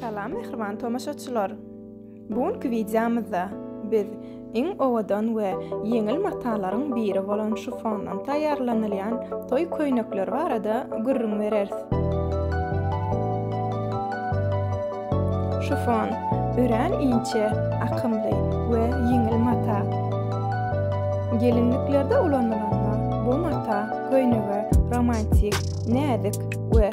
Salam mähriban tomaşaçylar. Bu günki wideomyzda biz iň owadan we ýeňil matalaryň biri bolan şufondan taýýarlanylýan toý köýnekleri barada gürrüň bereris. Şufon örän inçe, akymly we ýeňil mata. Gelinliklerde ulanylanda bu mata köýnege romantik, näzik we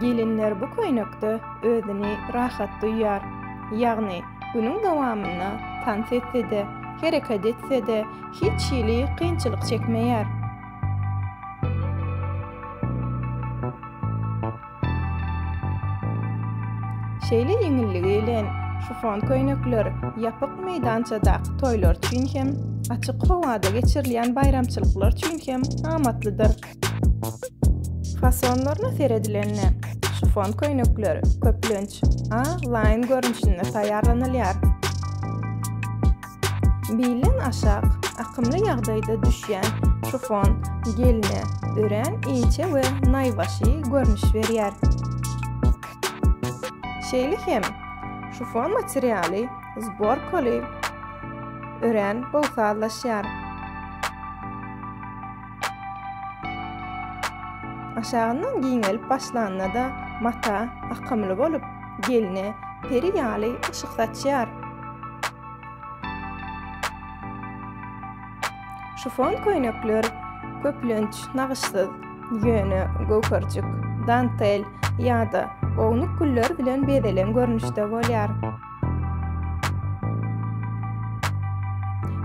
Gelinler bu köýnekde özüni rahat duýýar. Ýagny, günüň dowamynda tans etse-de, hereket etse-de, hiç hili kynçylyk çekmeýär. Şeýle ýeňilligi bilen şifon köýnekler ýapyk meýdançadaky toýlar üçin hem, açyk howada geçirilýän baýramçylyklar üçin hem amatlydyr. Fasonlaryna seredilende, şifon köýnekler köplenç A laýyn görnüşinde taýýarlanylýar. Bilden aşak akymly ýagdaýda düşýän şifon gelne örän inçe we naýbaşy görnüş berýär. Şeýle hem, şifon materialy zborkaly örän bol sazlaşýar. Aşagyndan giňelip başlanda-da mata akymly bolup, gelne peri ýaly yşyk saçýar. Şifon köýnekler köplenç nagyşsyz, ýöne göwherjik, dantel ýa-da ownuk güller bilen bezelen görnüşde bolýar.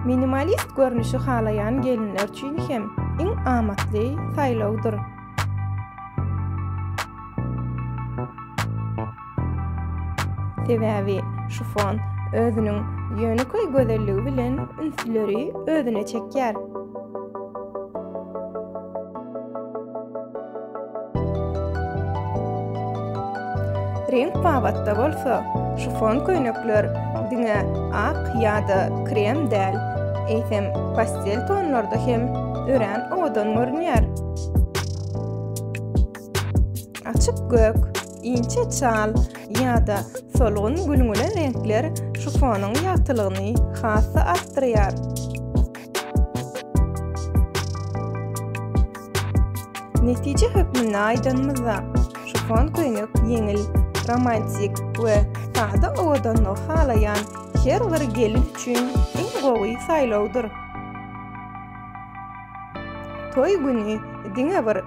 Minimalist görnüşi halaýan gelinler üçin hem iň amatly saýlawdyr. Sebäbi şifon özüniň ýönekeý gözelligi bilen ünsleri özüne çekýär. Reňk babatda bolsa, şifon köýnekler diňe ak ýa-da krem däl, eýsem pastel tonlarda hem örän owadan görünýär. Açyk gök, inçe çal ýa-da solgun gülňüle reňkler şifonyň ýagtylygyny has-da artdyrýar. Netije hökmünde aýdanymyzda, şifon köýnek ýeňil, romantik we sada owadanlygy halaýan her bir gelin üçin iň gowy saýlawdyr. Toý güni diňe bir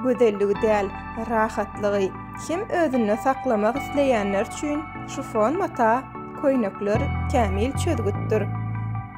gözelligi däl, rahatlygy hem özünde saklamak isleýänler üçin şifon mata köýnekler kämil çözgütdir.